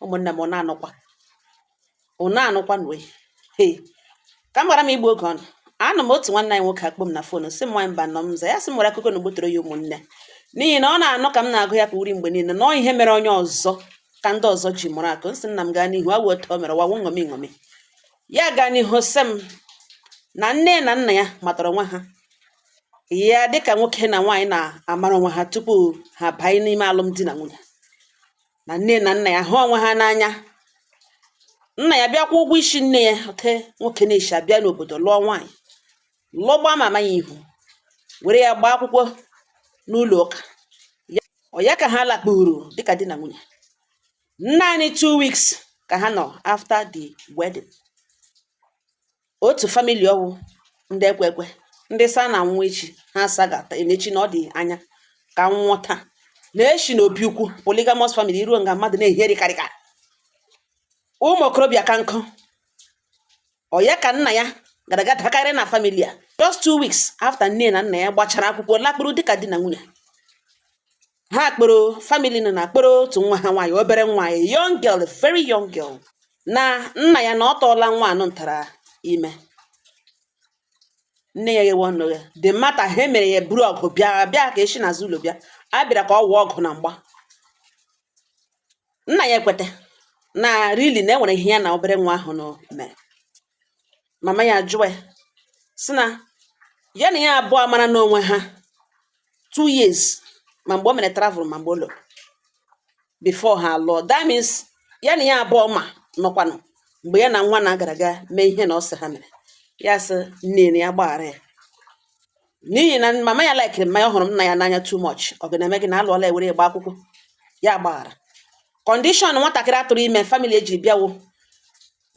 ụmụnne m ụna anụkwa ụna anụkwa nwe ka m ghara igbu oge unu anọ m otu nwanne anyị nwoke akpọọ m na phone sị m nwanyị Mbano m za ya sị m nwere akụkọ na ogbutere ya ụmụnne n'ihi na ọ na-anụ ka m na-agụ ya ka uri mgbe niile na ihe mere onye ọzọ ka ndị ọzọ ji mụrụ akọ m sị nna m gaa n'ihu awụ otu o mere wawu ṅomi ṅomi ya gaa n'ihu sị m na nne na nna ya matara onwe ha ya dịka nwoke na nwaanyị na-amara onwe ha tupu ha banye n'ime alụmdi na nwunye na nne na nna ya hụ onwe ha n'anya nna ya bịa kwụọ ụgwọ ishi nne ya oke nwoke na-eshi abịa n'obodo lụọ nwaanyị lụọ gba mama ya ihu were ya gbaa akwụkwọ n'ụlọ ụka ọ ya ka ha lakpuru dịka di na nwunye naanị two weeks ka ha nọ after the wedding otu family ọ wụ ndị ekwe ekwe ndị sa na anwụwa echi ha sagata eme echi na ọ dị anya ka nwụọ taa na eshi na obi ukwu polygamous family i ruo nga mmadụ na-ehi eri karịka ụmụ okorobịa ka nkụ ọ ya ka nna ya gara aga dakarị na family a just two weeks after nne na nna ya gbachara akwụkwọ lakpuru dịka di na nwunye ha kporo family nọ na kporo otu nwa ha nwaanyị obere nwaanyị young girl very young girl na nna ya na ọ tụọla nwa anụ ntara ime nne ya ghewe ọnụ ya dị mata ha emere ya buru ọgụ bịa bịa ka eshi n'azụ ụlọ bịa abịara ka ọ wụọ ọgụ na mgba nna ya ekweta na really na enwere ihe ya na obere nwa ahụ mere mama ya ajụwa ya sị na ya na ya abụọ amarana onwe ha two years ma mgbe o mere travel ma mgbe ọ lọrọ before ha alụọ that means ya na ya abụọ ma nọkwanụ mgbe ya na nwa na gara aga mee ihe na ọ sị ha mere ya sị nne ya gbaghara ya n'ihi na mama ya laikiri nna ya ọ hụrụ nna ya n'anya too much ọ ga na-eme gịnị alụọla ewere ya gbaa akwụkwọ ya gbaghara condition nwatakịrị atụrụ ime family eji bịa wụ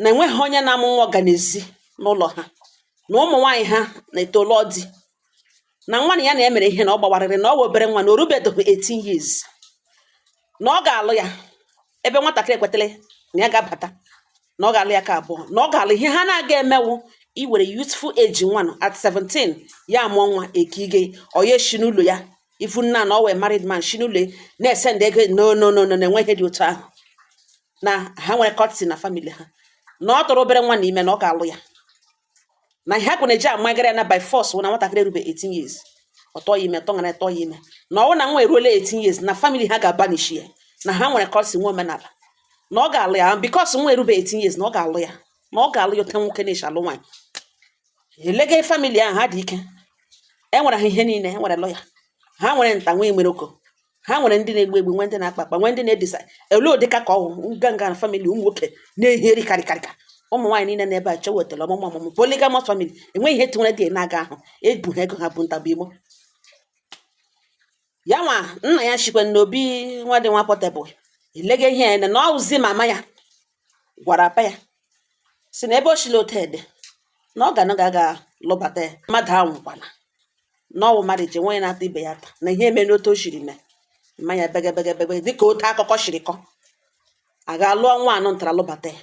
na enweghị onye na-amụ nwa ọ ga n'ezi n'ụlọ ha na ụmụ nwaanyị ha na-eto lụọ di na nwa na ya na ya mere ihe na ọ gbawarịrị na ọ wụ obere nwa na o rubedoghị 18 years na ọ ga-alụ ya ebe nwatakịrị ekwetara na ya ga-abata na ọ ga-alụ ya ka abụọ na ọ ga-alụ ihe ha na-aga eme wụ iwere youthful age nwa nọ at 17 ya amụọ nwa ekige onye shi n'ụlọ ya ifu nna na ọ wụ married man shi n'ụlọ ya na-esend ego no no no no na enweghị dị otu ahụ na ha nwere courtesy na family ha na ọ tụrụ obere nwa na ime na ọ ga-alụ ya na ihe akụ na-eji amagara ya na by force wụ na nwatakịrị erube 18 years ọ tụọ ya ime tụọ ngana tụọ ya ime na ọ wụ na nwa eruola 18 years na family ha ga-abanish ya na ha nwere courtesy nwee omenala na ọ ga-alụ ya because nwa erube 18 years na ọ ga-alụ ya na ọ ga-alụ ya oke nwoke na-eshi alụ nwaanyị elega family ahụ ha dị ike enwere ha ihe niile enwere lawyer ha nwere nta nwa nwere oko ha nwere ndị na-egbu egbu nwee ndị na-akpa akpa nwee ndị na-edisa ele ụdịka ka ọwụ nganga na family ụmụ nwoke na-ehi eri karịkarịka ụmụ nwaanyị niile n'ebe a chewetara ọmụmụ ọmụmụ polygamous family enweghị ihe tinyere dị na-aga ahụ ebu ha ego ha bụ ntabụ imo ya nwa nna ya chikwe n'obi nwa dị nwa portable elega ihe ya na ọwụzi mama ya gwara mpa ya sị na ebe o sila ote ede na ọ ga na ga ga lụbata ya mmadụ awụkwana na ọwụ mmadụ ji nwa ya na-ata ibe ya ụta na ihe mere otu o siri mee mma ya begebegebege dịka otu akụkọ siri kọ a gaa lụọ nwa anụ ntara lụbata ya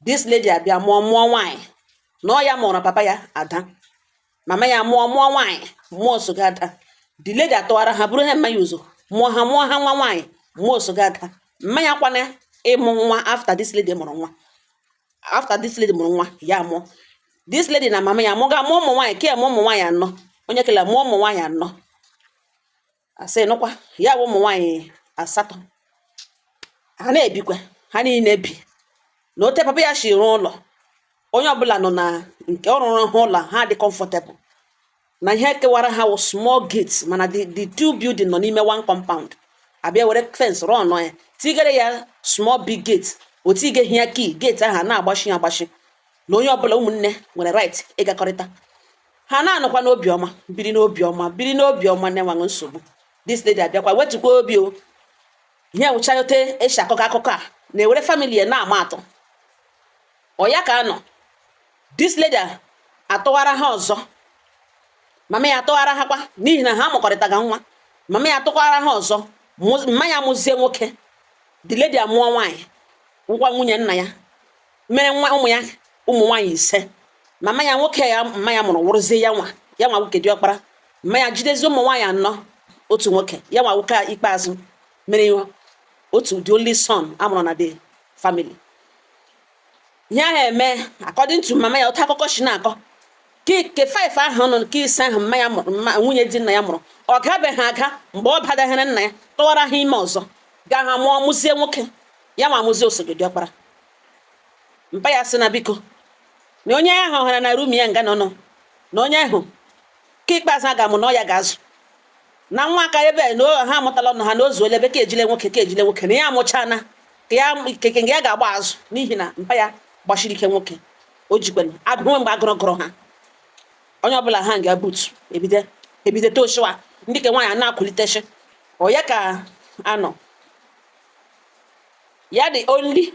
this lady abịa mụọ mụọ nwaanyị na ọ ya mụrụ papa ya ada mama ya mụọ mụọ nwaanyị mụọ osoga ada the lady atụwara ha buru ha mma ya ụzọ mụọ ha mụọ ha nwa nwaanyị mụọ osoga ada mma ya kwana ịmụ nwa after this lady mụrụ nwa after this lady mụrụ nwa ya mụọ this lady na mama ya mụga mụọ ụmụ nwaanyị ke mụọ ụmụ nwaanyị anọ onye kele mụọ ụmụ nwaanyị anọ asị nụkwa ya bụ ụmụ nwaanyị asatọ ha na-ebikwa ha niile bi na otu papa ya si rụọ ụlọ onye ọbụla nọ na nke ọ rụrụ ha ụlọ ha dị comfortable na ihe kewara ha wụ small gate mana the the two building nọ n'ime one compound a bịa were fence rụọ nọ ya tigere ya small big gate o tigeghị ya key gate ahụ a na-agbachi ya agbachi na onye ọbụla ụmụnne nwere right ịgakọrịta ha na-anọkwa n'obiọma biri n'obiọma biri n'obiọma na-enweghị nsogbu this lady abịakwa wetukwa obi ọ ihe wụcha ya otu e si akọ akụkọ a na-ewere family ya na-ama atụ ọ ya ka a nọ this lady atụwara ha ọzọ mama ya atụwara ha kwa n'ihi na ha mụkọrịtaga nwa mama ya atụkwara ha ọzọ mma ya mụzie nwoke the lady amụọ nwaanyị ngwa nwunye nna ya mere nwa ụmụ ya ụmụ nwaanyị ise mama ya nwoke ya mma ya mụrụ wụrụzie ya nwa ya nwa nwoke diọkpara mma ya jidezie ụmụ nwaanyị anọ otu nwoke ya nwa nwoke ikpeazụ mere ihe otu the only son a mụrụ na the family ya ha eme according to mama ya otu akụkọ si na-akọ nke five ahụ nọ nke ise ahụ mma ya mụrụ mma nwunye di nna ya mụrụ ọ gabeghị aga mgbe ọ badaghịrị nna ya tụwara ha ime ọzọ gaa ha mụọ mụzie nwoke ya nwa amụzie osoga diọkpara mpa ya sị na biko na onye ahụ hụra na room ya nga nọ nọ na onye ahụ ke ikpeazụ a ga-amụ na ọ ya ga-azụ na nwa aka ebe na ha amụtala ọnụ ha na o zuola ebe ka ejile nwoke ka ejile nwoke na ya amụchana ka ya keke nga ya ga-agba azụ n'ihi na mpa ya gbasiri ike nwoke o jikwenu agụrụ mgbe agụrụ gụrụ ha onye ọbụla ha nga butu ebido ebido toshiwa ndị ke nwaanyị na-akwụlitechi ọ ya ka anọ ya dị only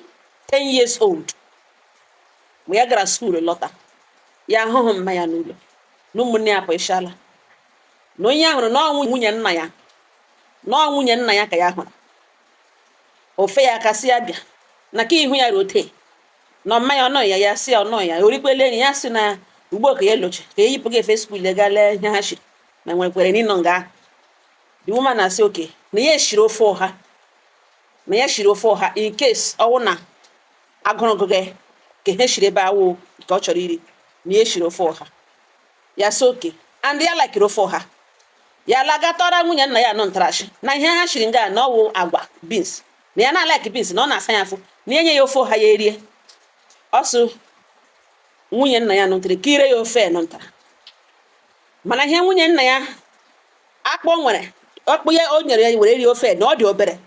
10 years old mgbe ya gara skuul lọta ya ahụhụ mma ya n'ụlọ na ụmụnne ya pụchala na onye ya hụrụ na ọ wụ nwunye nna ya na ọ nwunye nna ya ka ya hụrụ o fee ya aka sị ya bịa na ka ihu ya rote na mma ya ọ nọ ya ya sị ya ọ nọ ya o rikwele nri ya sị na ugbu a ka ya lọje ka ya yipụ gị efe skuul gaa lee ihe ha shiri na nwerekwere nri nọ nga ahụ the woman now say okay na ya shiri ofe ọha na ya shiri ofe ọha in case ọ wụ na agụrụ gụ gị ka ihe ha shiri ebe ahụ nke ọ chọrọ iri na ya shiri ofe ọha ya sị okay and ya lakiri ofe ọha ya lagatọra nwunye nna ya nụ ntara sị na ihe ha shiri nga na ọ wụ agwa bins na ya na-alaki bins na ọ na-asa ya afọ ya nye ya ofe ọha ya erie so nwunye nna ya nụ ntara kunyere ya ofe nụ ntara mana ihe nwunye nna ya akpụ o nwere ọkpụ ya o nyere ya were rie ofe na ọ dị obere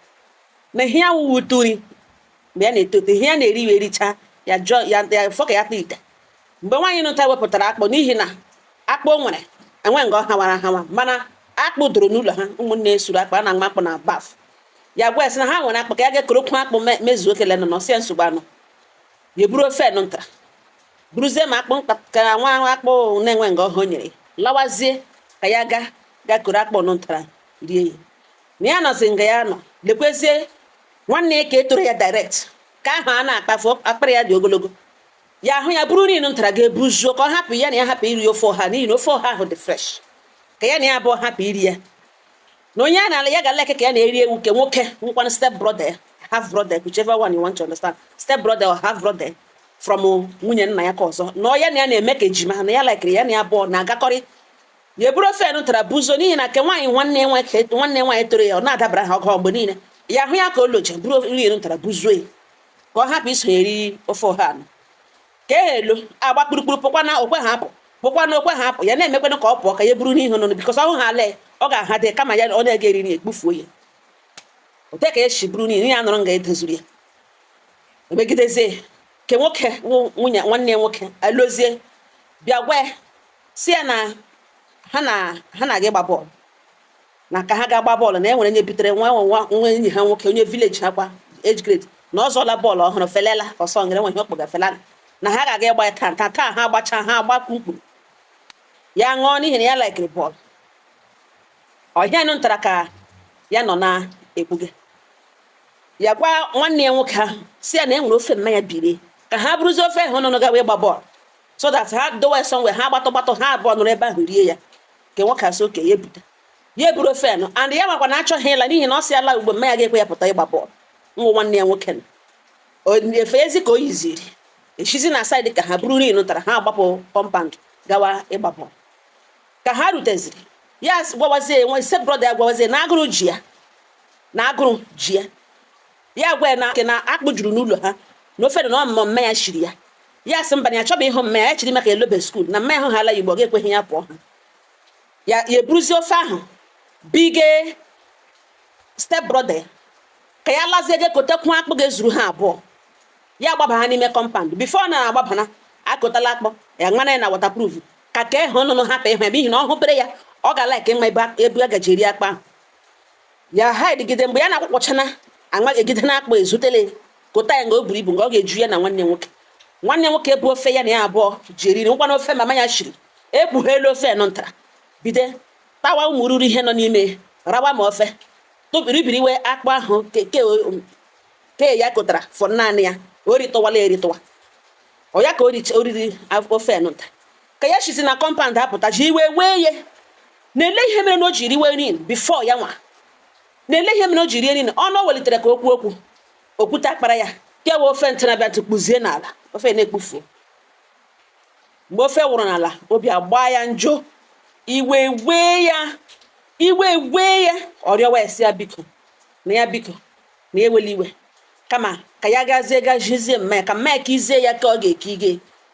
na ihe ya wụwa ụtụ nri mgbe ya na-eto eto ihe ya na-eri ya ericha ya ju ya afọ ka ya kpa ite mgbe nwaanyị nụta wepụtara akpụ n'ihi na akpụ o nwere enwe nga ọ hawara hawa mana akpụ dọrọ n'ụlọ ha ụmụnne e suru akpụ a na-agba akpụ na baf ya gwa ya sị na ha nwere akpụ ka ya gaa korokwu akpụ me- mezuo kele nụ ọ sị ya nsogbu anọ ya eburu ofe nụ ntara buruzie ma akpụ mkpakara nwa ahụ akpụ na-enwe nga ọ ha o nyere lawazie ka ya gaa koro akpụ nụ ntara rie ya na ya nọzi nga ya nọ lekwezie nwanne ya ke toro ya direct ke ahụ a na-akpafu akpịrị ya dị ogologo ya hụ ya buru nri nụ ntara gaa buzuo ka ọ hapụ ya na ya hapụ iri ofe ọha n'ihi na ofe ọha ahụ dị fresh ka ya na ya abụọ hapụ iri ya na onye a na-ala ya ga-alaiki ka ya na ya rie wụ nke nwoke nwekwana step brother half brother whichever one you want to understand step brother or half brother from nwunye nna ya ke ọzọ na ọ ya na ya na-eme ka ejima na ya laikiri ya na ya abụọ na-agakọrị ya eburu ofe nụ ntara buzuo n'ihi na nke nwaanyị nwanne nwanne nwaanyị toro ya ọ na-adabara ha ọgụ mgbe niile ya hụ ya ka ọ lọje buru nri nụ ntara buzuo ya ka ọ hapụ iso ya eri ofe ọha nụ ke ahụ alọ agba kpurukpuru pụkwanụ o kwehu apụ pụkwanụ o kwehu apụ ya na-emekwana ka ọ pụọ ka ya buru ihe nụ bikọs ọ hụ ha lee ọ ga-aha dị kama ya ọ na-ege eriri ekpufuo ya ote ka e si buru nri ya nọrọ nga e dozuru ya emegidezie ke nwoke nwunye nwanne ya nwoke alọzie bịa gwa ya sị ya na ha na ha na-aga ịgba bọọlụ na ka ha gaa gbaa bọọlụ na e nwere onye bitere nwa nwa nwa enyi ha nwoke onye vileji ha kwa age grade na ọ zụla bọọlụ ọhụrụ felele ọsọ ngere nwe ihe a kpọga felele na ha ga-aga ịgba ya taa taa ha agbacha ha agba mkpuru ya ṅụọ n'ihi na ya laikiri bọọlụ ọ ihe a nụ ntara ka ya nọ na-ekpuge ya gwa nwanne ya nwoke ahụ sị ya na e nwere ofe mma ya biri ka ha buruzie ofe ahụ nụ gawa ịgba bọọlụ so that ha dowe ya somewhere ha gbatụ gbatụ ha abụọ nọrọ ebe ahụ rie ya ke nwoke asị oke ya ebute ya eburu ofe nụ and ya makwa na achọghị ịla n'ihi na ọ sị ya laa ugbua mma ya ga-ekwe ya pụta ịgba bọọlụ nwa nwanne ya nwoke nọ efe ezi ka o yiziri eshizi na saịdị ka ha buru rin nụ ntara ha agbapụ kọmpand gawa ịgba bọọlụ ka ha ruteziri ya gwawazie nwa step brọda ya gwawazie na agụrụ ji ya na agụrụ ji ya ya gwa ya na ke na akpụ juru n'ụlọ ha na ofe dị na ọmụmụ mme ya shiri ya ya sị mba na ya chọba ihe mme ya shiri maka elobe skuul na mme ya hụ ha ala ugbua ọ ga-ekweghị ya pụọ ha ya ya eburuzie ofe ahụ bige step brother ya ka ya lazie je kotekwu akpụ ga-ezuru ha abụọ ya agbaba ha n'ime kọmpand bifo ọ na-agbabana ekotala akpụ ya ṅana ya na watapruf ka ka ịhụ ọnụnụ hapụ ịhụ ya n'ihi na ọ hụpere ya ọ ga-alaiki ịma ebe a- ebe a gaji eri akpụ ahụ ya ha edigide mgbe ya na-akpụkpọchana anwa egide na akpụ ezutele kota ya nga o buru ibu nga ọ ga-eju ya na nwanne nwoke nwanne nwoke bu ofe ya na ya abụọ ji eriri ngwa na ofe mama ya shiri ekpughelu ofe nụ ntara bide tawa ụmụ ruru ihe nọ n'ime rawa ma ofe tụbiri riwe akpụ ahụ ke ya kotara fọ naanị ya o ritọwala eritọwa ọ ya ka o riri ofe nụ nta ka ya shizi na kọmpand apụta ji iwe wee ye na-ele ihe mere na o ji riwe nri bifo ya nwa na-ele ihe mere o ji rie nri nụ o welitere ka okwu okwu okwute akpara ya kewa ofe ntị na abịa tụkpuzie n'ala ofe nụ ekpufuo mgbe ofe wụrụ n'ala obi agbaa ya njọ iwe wee ya iwe wee ya ọ rịọwazie ya biko na ya biko na ewela iwe kama ka ya gazie ga jụzie mma ya ka mma ya ka izie ya ka ọ ga-eke ige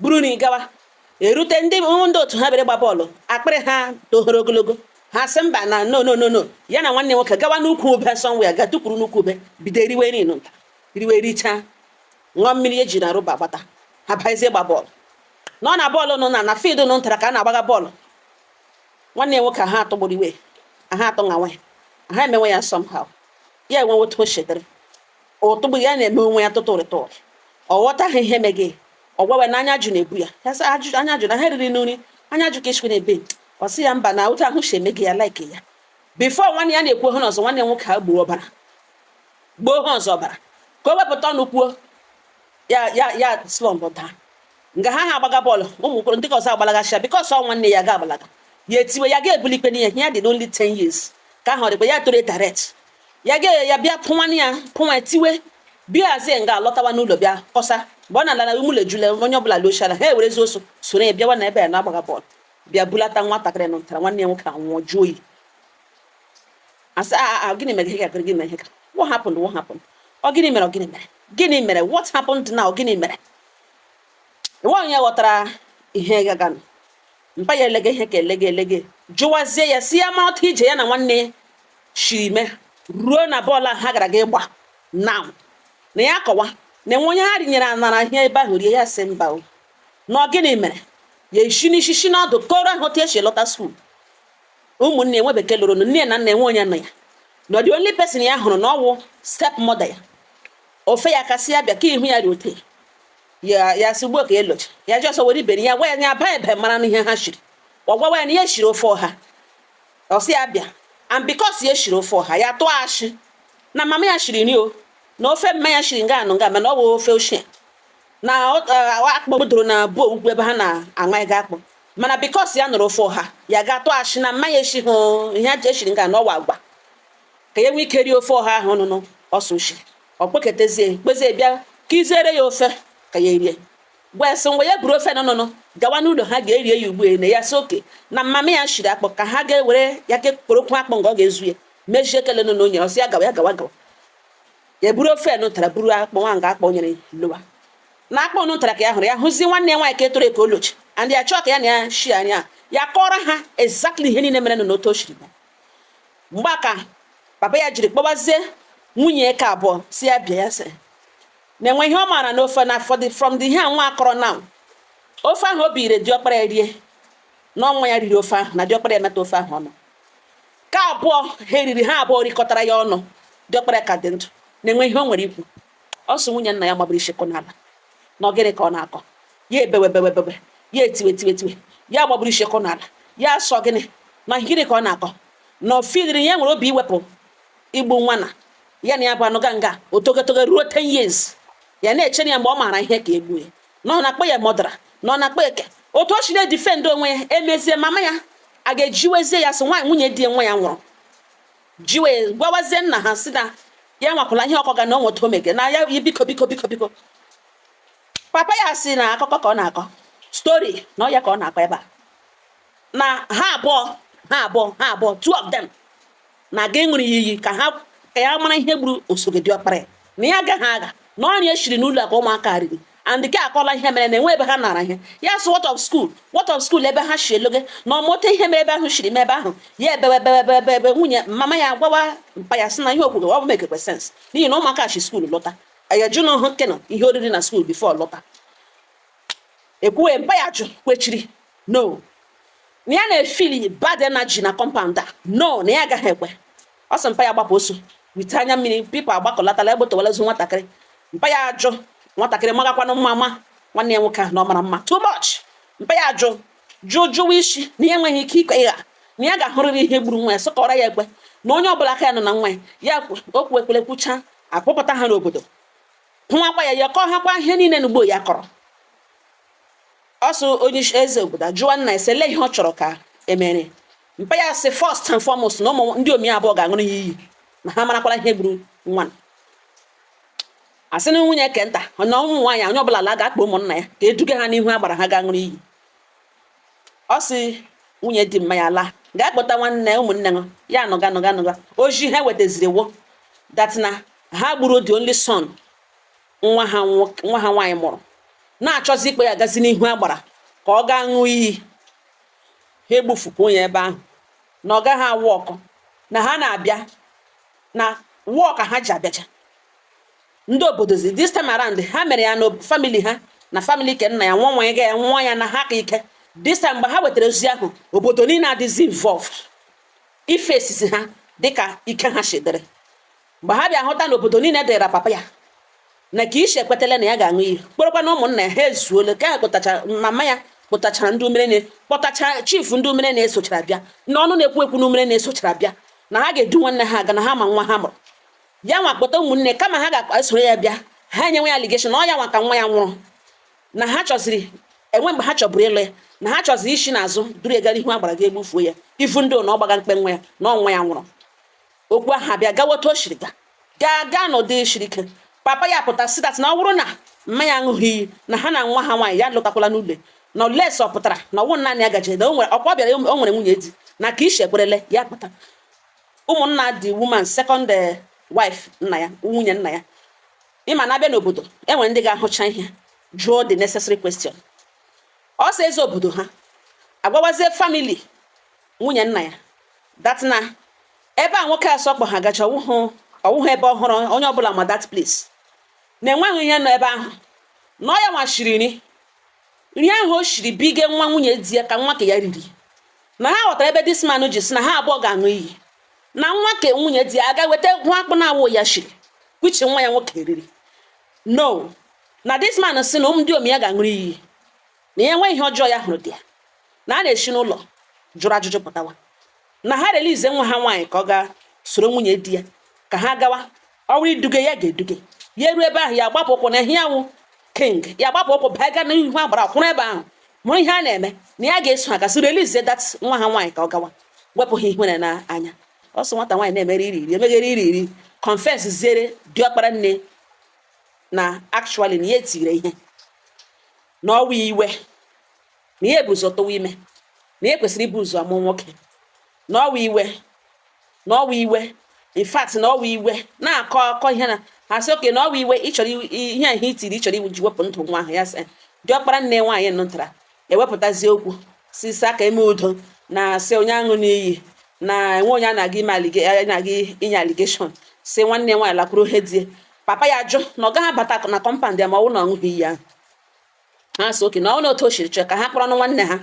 buru nri gawa erute ndị ndị otu ha bere gba bọọlụ akpịrị ha tohoro ogologo ha sị mba na no no no no ya na nwanne nwoke gawa n'ukwu ube somewhere ga tukwuru n'ukwu ube bido eriwe nri nta riwe richaa ṅụọ mmiri eji na rọba gbata ha bazie gba bọọlụ nụ na bọọlụ nụ na na field nụ ntara ka a na-agbaga bọọlụ nwanne ya nwoke ha atọgburu iwe ha atọ ngawa ha emewe ya somehow ya enwewe otu o chetere ụtụgbụ ya na-eme onwe ya tụtụrị tụrị ọ ghọtaghị ihe mege ya ọ gwawe na anya ajụ na-ebu ya ya sị ajụ anya ajụ na ha riri nri anya ajụ ka eshikwe na ebe ọ sị ya mba na otu ahụ shi emege ya laiki ya bifo nwanne ya na-ekwu ihe ọzọ nwanne nwoke agbọọ ọbara gbọọ ha ọzọ ọbara ka o wepụta ọnụ kwuo ya ya ya slọmpụ daa nga ha ha agbaga bọọlụ ụmụ okoro ndị ke ọzọ agbalagasịa bikọs ọ nwanne ya ga-agbalaga ya etiwe ya ga-ebuli ikpe n'ihi ya dị only 10 years ka ahụ dịkwa ya toro etaret ya ga ya bịa pụ nwanne ya pụnwa tiwe bịazie nga lọtawa n'ụlọ bịa kọsa mgbe ọ na-ala ụmụlọ ejula onye ọbụla lọchara ha ewerezi ọsọ soro ya bịawa na ebe ya na-agbaga bọọlụ bịa bulata nwatakịrị nụ ntara nwanne ya nwoke anwụọ jụọ oyi asị ah, ah, ah, gịnị mere ihe ga-agụrụ gị na ihe ka what happened what happened ọ gịnị mere ọ gịnị mere gịnị mere what happened now gịnị mere enwe onye ghọtara ihe gaganụ mpa ya elege ihe ka elege elege jụwazie ya si ya ma otu ije ya na nwanne ya shiri mee ruo na bọọlụ ahụ ha gara ga ịgba na na ya kọwa na enwe onye ha rinyere anara ihe ebe ahụ rie ya si mba o na ọ gịnị mere ya eshi n'ishi shi n'ọdụ kọọrọ ha otu e shi lọta skuul ụmụnne enwe bekee lụrụ nne na nna enwe onye nọ ya na the only person ya hụrụ na ọ wụ step mother ya ofe ya ka sị ya bịa ka ihu ya dị ote ya ya si ugbo ka elocha ya ji ọsọ were iberi ya gwa ya ya baa ebe mara n'ihe ha shiri ọ gwawa ya na ya shiri ofe ọha ọ sị ya bịa and because ya shiri ofe ọha ya tụọ ashị na mama ya shiri nri o na ofe mma ya shiri nga anụ nga mana ọ bụ ofe ochie na eh, akpụ doro na bụ ugwu ebe ha na-aṅa ego akpụ mana because ya nụrụ ofe ọha ya ga-atụ ashị na mma ya eshihụ ihe eshiri nga na ọ wụ agwa ka ya nwee ike rie ofe ọha ahụ nụnụ ọsọ ushi ọ kpọketezie kpezie bịa kuziere ya ofe ka ya erie gwa ya sị ngwa ya buru ofe nụnụnụ gawa n'ụlọ ha ga-erie ya ugbu na ya sị okay na mama ya shiri akpụ ka ha ga-ewere ya ke kporokwu akpụ nga ọ ga-ezu ya mejie ekele nụnụ o nyere ọ sị ya gawa ya gawa gawa ya buru ofe nụ tara buru akpụ nwa nga akpụ nyere lowa na akpụ nụ tara ka ya hụrụ ya hụzi nwanne ya nwaanyị ka etoro eke olochi and ya chọọ ka ya na ya shi anya ya kọọrọ ha exactly ihe niile merenụ na otu o shiri mgbe a ka papa ya jiri kpọbazie nwunye eke abụọ si ya bịa ya sị na enwe ihe ọ maara n'ofe na from the ihe nwa a kọrọ na ofe ahụ o biri diọkpara ya rie na ọ nwa ya riri ofe ahụ na diọkpara ya meta ofe ahụ ọnụ ka abụọ ha eriri ha abụọ rikọtara ya ọnụ diọkpara ya ka dị ndụ na enwe ihe o nwere ikwu ọ sị nwunye nna ya gbabiri ishi kụọ n'ala na ọ gịnị ka ọ na-akọ ya ebewe bewe bewe ya etiwe tiwe tiwe ya gbabiri ishi kụọ n'ala ya sị ọ gịnị na gịnị ka ọ na-akọ na ọ filiri ya nwere obi iwepụ igbu nwa na ya na ya bụ anụ ga nga otogotogo ruo 10 years ya na-echere ya mgbe ọ maara ihe ka egbu ya na ọ na-akpọ ya murderer na ọ na-akpọ eke otu o shi na-edefend onwe ya emezie mama ya aga jiwezie ya sị nwaanyị nwunye di ya nwa ya nwụrụ ji wee gwawazie nna ha si na ya nwakwala ihe ọ kọga na onweta omege na ya yi biko biko biko biko papa ya si na akụkọ ka ọ na-akọ story na ọ ya ka ọ na-akọ ebe a na ha abụọ ha abụọ ha abụọ two of them na-aga ịṅụrụ ya iyi ka ha ka ya mara ihe gburu osogo diọkpara ya na ya agaghị agha na ọ nri eshiri n'ụlọ ka ụmụaka riri and gị akọla ihe mere na enwe ebe ha nara ihe ya sị what of school what of school ebe ha si eloge na ọmụta ihe mere ebe ahụ shiri m ebe ahụ ya ebewe ebewe ebewe ebe nwunye mama ya gwawa mpa ya sị na ihe o kwuru ọ bụ mekekwe sense n'ihi na ụmụaka si skuul lọta ya jụ nwa ahụ kena ihe o riri na skuul before lọta ekwuwe mpa ya jụ kwechiri no na ya na-efili bad energy na compound a no na ya agaghị ekwe ọ sị mpa ya gbapụ ọsọ wite anya mmiri people agbakọlatala egbotowalazu nwatakịrị mpa ya ajụ nwatakịrị magakwanụ mma ma nwanne ya nwoke ahụ na ọ mara mma too much mpa ya ajụ jụọ jụwa isi na ya enweghị ike ikwe ịgha na ya ga-ahụrịrị ihe gburu nwa ya sọkọrọ ya ekwe na onye ọbụla aka ya nọ na nwa ya okwu ekpere kwucha akpọpụta ha n'obodo hụwakwa ya kọọ ha kwa ihe niile n'ugbo ya kọrọ so onye isi eze obodo ajụwa nna ya sị olee ihe ọ chọrọ ka emere mpa ya sị first and foremost na ụmụ ndị omi abụọ ga-aṅụrụ ya iyi na ha marakwara ihe gburu nwa asị na nwunye ke nta na ụmụ nwaanyị onye ọbụla laa gaa kpọọ ụmụnna ya ka eduga ha n'ihu agbara ha ga-aṅụrụ iyi ọ sị nwunye di mma ya laa gaa kpọta nwanne ụmụnne ha ya anụga anụga anụga ozi ha wetaziri wụ that na ha gburu the only son nwa ha nwaanyị mụrụ na-achọzi ịkpọ ya gazi n'ihu agbara ka ọ gaa ṅụọ iyi ha egbufukwa onye ebe ahụ na ọ gaghị a-work na ha na-abịa na wụọ ka ha ji abịacha ndị obodo zi this time around ha mere ya na family ha na family ke nna ya nwa nwa ya ga ya nwa ya na ha ka ike this time mgbe ha wetara ozi ahụ obodo niile adịzi involved ife esizi ha dịka ike ha chedere mgbe ha bịa hụta na obodo niile dịra papa ya na ka ishi ekwetala na ya ga-aṅụ iyi kpọrọkwa na ụmụnna ya ha ezuola ka ha kpọtachara mama ya kpọtachara ndị umere na kpọtacha chief ndị umere na-esochara bịa na ọnụ na-ekwu ekwu na umere na-esochara bịa na ha ga-edu nwanne ha aga na ha ma nwa ha mụrụ ya nwa kpọta ụmụnne kama ha ga-esoro ya bịa ha enyewe ya allegation na ọ ya nwa ka nwa ya nwụrụ na ha chọziri enwe mgbe ha chọburu ịlụ ya na ha chọziri isi n'azụ duru ya gara ihu agbara ga egbufuo ya ifu ndị na ọ gbaga mkpe nwa ya na ọ nwa ya nwụrụ okwu ahụ abịa gawa otu o siri ga gaa gaa n'ụdị siri ike papa ya pụta sị that na ọ bụrụ na mma ya aṅụghị iyi na ha na nwa ha nwaanyị ya lọtakwala n'ụlọ unless ọ pụtara na ọnwụ naanị ya gaje na ọkwa bịara o nwere nwunye di na ka ishi ekwerele ya pụta ụmụnna the woman second eh, wife nna ya nwunye nna ya ị ma na a bịa n'obodo enwere ndị ga-ahụcha ihe jụọ the necessary question ọ sị eze obodo ha agwawazie family nwunye nna ya that na ebe a nwoke asọ kpọ ha gacha ọ wụhụ ebe ọhụrụ onye ọbụla ma that place na enweghị ihe nọ ebe ahụ na ọ ya nwa shiri nri nri ahụ o shiri bige nwa nwunye di ya ka nwa ka ya riri na ha ghọtara ebe this man ji sị na ha abụọ ga-aṅụ iyi na nwa ka nwunye di ya aga weta hụ akpụ na awụ ya shiri kwichi nwa ya nwoke riri no na this man sị na ụmụ ndị omi ya ga-aṅụrụ iyi na ya enwe ihe ọjọọ ya hụrụ dị ya na a na-esi n'ụlọ jụrụ ajụjụ pụtawa na ha release nwa ha nwaanyị ka ọ gaa soro nwunye di ya ka ha gawa ọrụ iduge ya ga-eduge ya eruo ebe ahụ ya gbapụ ụkwụ na ya wụ king ya gbapụ ụkwụ baa gaa n'ihu agbara kwụrụ ebe ahụ mụrụ ihe a na-eme na ya ga-eso ha gasị release that nwa ha nwaanyị ka ọ gawa wepụ ha ihere n'anya ọ sị nwata nwaanyị na-emere iri iri emeghere iri iri confess ziere diọkpara nne na actually na ya etire ihe na ọ wụ iwe na ya bu ụzọ tụwa ime na ya kwesịrị ibu ụzọ amụ nwoke na ọ wụ iwe na ọ wụ iwe in fact na ọ wụ iwe na-akọ akọ ihe na ha sị okay na ọ wụ iwe ị chọrọ ihe ahụ i tiri ị chọrọ iji wepụ ndụ nwa ahụ ya sị diọkpara nne nwaanyị nụtara ewepụtazi okwu sị ka e mee udo na sị onye aṅụna iyi na enwe onye a na-aga ime na-aga inye allegation sị nwanne nwaanyị lakwuru ohe di ya papa ya jụ na ọ gaghị abata na compound ya ma ọ wụ na ọ ṅụghị iyi ahụ ha sị okay na ọ wụ na otu o siri chọọ ka ha kpọrọnụ nwanne ha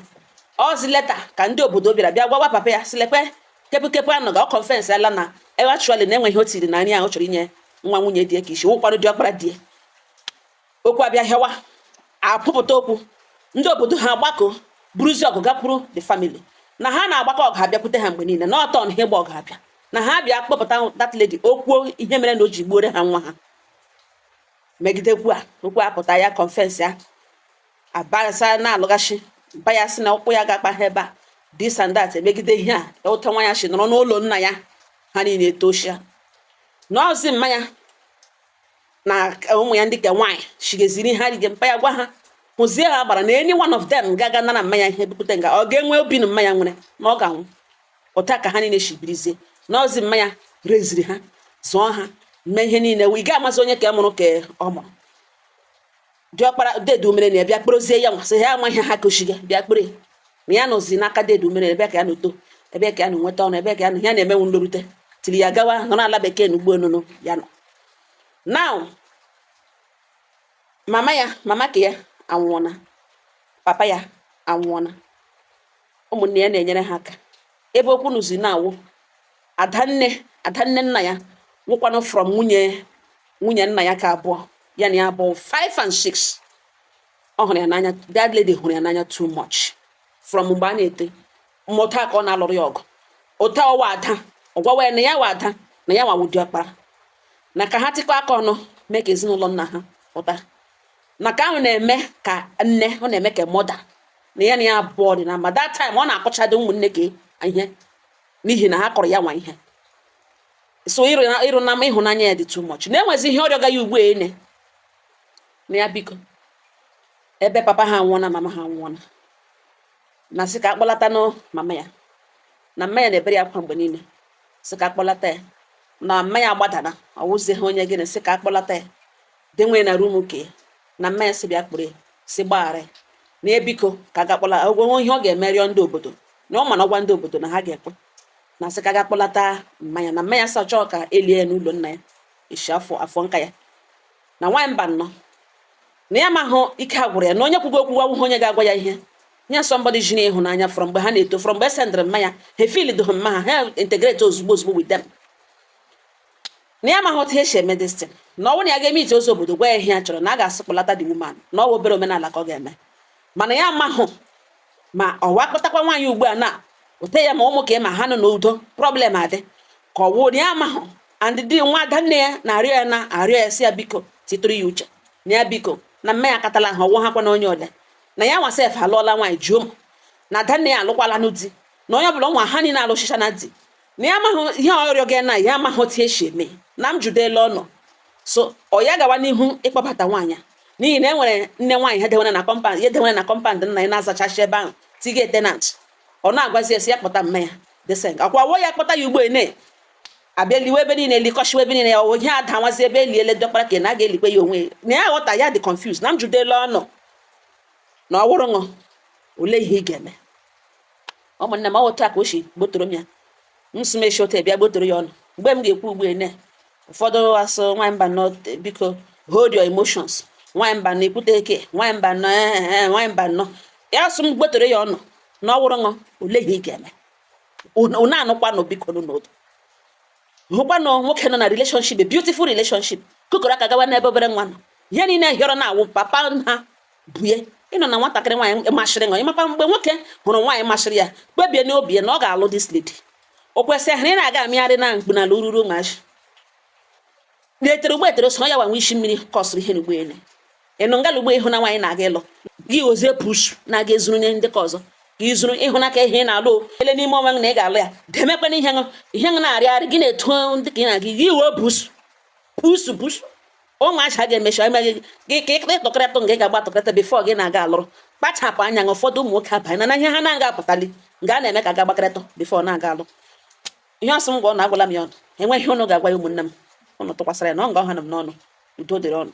ọzi later ka ndị obodo bịara bịa gwawa papa ya sị lekwe kepụkepụ a nụga ọ confessiala na actually na e nwere ihe o tiri na nri ahụ chọrọ inye nwa nwunye di ya ka isi wụkwanụ diọkpara di ya okwu abịa hịawa apụpụta okwu ndị obodo ha agbakọ buruzi ọgụ gakwuru the family na ha na-agbakọ ọgụ abịakwute ha mgbe niile na ọtọ na ha ịgba ọgụ abịa na ha bịa kpọpụta that lady okwuo ihe mere na o ji gbuore ha nwa ha megidekwu a okwu apụta ya confess ya abasa na-alọghachi mpa ya sị na ụkwụ ya ga-akpa ha ebe a this and that emegide ihe a e otu a nwa ya si nọrọ n'ụlọ nna ya ha niile etochia n'ozi mmanya na ụmụ ya ndị ka nwaanyị chigeziri ha rige mpa ya gwa ha hụzie agbara na any one of them ga-aga nara mmanya ihe bupụta nga ọ ga-enwe obi na mmanya nwere na ọ ga-anwụ otu a ka ha niile shi birizie n'ozi mmanya reziri ha zụọ ha mee ihe niile ị ga-amazi onye ka mụrụ ka ọ mụrụ diọkpara dedu mere na ya bịa kporozie ya nwa sị ya amaghị ha kụchiga bịa kpere na ya nọzi n'aka dedu mere ebe ka ya nọ too ebe ka ya nọ nweta ọnụ ebe ka ya na ya na-emenwu nlorute tiri ya gawa nọ n'ala bekee na ụgbọelu nụ ya nọ now mama ya mama ka ya anwụọna papa ya anwụọna ụmụnne ya na-enyere ha aka ebe okwu nọzi na-awụ adanne adanne nna ya wụkwanụ from nwunye nwunye nna ya ka abụọ ya na ya bụ 5 and 6 ọ hụrụ ya n'anya that lady hụrụ ya n'anya too much from mgbe ha na-eto ụmụtaka ọ na-alụrụ ya ọgụ otu ọ wụ ada ọ gwawa ya na ya wụ ada na ya nwa wụ diọkpara na ka ha tịkọ aka ọnụ mee ka ezinụlọ nna ha pụta na ka ahụ na-eme ka nne ọ na-eme ka mother na ya na ya abụọ dị na mba that time ọ na-akọchadị ụmụnne gị ihe n'ihi na ha kọrọ ya nwa ihe so ịrụ na ịrụ na ịhụnanya ya dị too much na-enwezi ihe ọ rịọga ya ugbu ene na ya biko ebe papa ha nwụọna mama ha nwụọna na sị ka a kpọlata nụ mama ya na mma ya na-ebere ya akwa mgbe niile sị ka a kpọlata ya na mma ya agbadana ọ wụzie ha onye gịnị sị ka a kpọlata ya denwe na rum ke na mma ya sị bịa kpọrọ ya sị gbaghara ya na biko ka a ga kpọla ya o nwe ihe ọ ga-eme rịọ ndị obodo na ọ ma na ọ gwa ndị obodo na ha ga-ekwe na sị ka a ga kpọlata mma ya na mma ya sị chọọ ka e lie ya n'ụlọ nna ya isi afọ afọ nka ya na nwaanyị Mbano na ya mahụ ike agwụrụ ya na onye kwugo okwu awụhụ onye ga-agwa ya ihe nye somebody ji n'ịhụnanya from mgbe ha na-eto from mgbe e sendịrị mma ya ha feel dụhụ mma ha ha integrate ozugbo ozugbo with them na ya amaghị otu esi eme this thing na ọ bụrụ na ya ga-eme ije ozi obodo gwa ya ihe ya chọrọ na a ga-asị kpọlata the woman na ọ bụ obere omenala ka ọ ga-eme mana ya amahụ ma ọ wa kpọtakwa nwaanyị ugbu a na ote ya ma ụmụ ka ma ha nọ n'udo problem adị ka ọ wụrụ ya amahụ and dị nwa ada nne ya na-arịọ ya na-arịọ ya sị ya biko titụrụ ya uche na ya biko na mma ya akatala ha ọ wụ ha kwa na onye ole na ya nwa sef alụọla nwaanyị juo na ada nne ya alụkwala nụ di na onye ọbụla nwa ha niile alụchichana di na ya amaghị ihe ọ rịọ gị na ya amaghị otu esi eme na m jụdela ụnụ so ọ ya gawa n'ihu ịkpọbata nwaanyị a n'ihi na e nwere nne nwaanyị ha dewere na compound ya dewere na compound nna ya na-azachachi ebe ahụ dị ka tenant ọ na-agwazi ya sị ya kpọta mma ya desen akwa wọ ya kpọta ya ugbu ene a bịa liwe ebe niile likọchiwa ebe niile ya ọ wụ ihe adanwazi ebe eliele dọkpara ka na a ga-elikwe ya onwe na ya ghọta ya dị confused na m jụdela ụnụ na ọ wụrụ ṅụ olee ihe ị ga-eme ụmụnne m ọ wụ otu a ka o si gbotoro m ya m si mechi otu bịa gbotoro ya unu mgbe m ga-ekwu ugbu ene ụfọdụ asị nwaanyị Mbano biko hold your emotions nwaanyị Mbano ekwute eke nwaanyị Mbano ee eh, eh, eh, nwaanyị Mbano ya sị m gbotoro ya unu na ọ wụrụ ṅụ olee ihe ị ga-eme unu anụkwanụ biko n'otu hụkwanụ nwoke nọ na relationship a beautiful relationship kụkọrọ aka gawa n'ebe obere nwa nọ ihe niile hịọrọ na awụ papa ha bue ị nọ na nwatakịrị nwaanyị masịrị ṅụ ị makwa mgbe nwoke hụrụ nwaanyị masịrị ya kpebie n'obi ya na ọ ga-alụ this lady o kwesịrị ị na-aga amịgharị na mkpu n'ala ururu maji na-etere ụgbọ etere so ya gbanwe isi mmiri kọsịrị ihe n'ugbu ene ịnụ ngala ugbo ịhụ na nwaanyị na-aga ịlụ gị ozie push na-aga ezuru nye ndị ka ọzọ ka izuru ịhụnaka ihe na-alụ ele n'ime onwe gị na ị ga-alụ ya demekwana ihe ṅụ ihe ṅụ na-arịgharị gị na-eto ndị ka ị na-aga gị iwe busu busu busu ụmụ acha ga-emecha emeghị gị ka ịkịta ịtọkọrịta nga ị ga-agba atọkọrịta before gị na-aga alụrụ kpachapụ anya na ụfọdụ ụmụ nwoke abanyena ihe ha na-aga apụtali nga a na-eme ka ga gbakọrịta before na-aga alụ ihe ọ sị m gwa ụnụ agwala m ya ụnụ e nwee ihe ụnụ ga-agwa ya ụmụnne m ụnụ tụkwasịra ya na ọ nga ọ hana m n'ọnụ udo dịrị ụnụ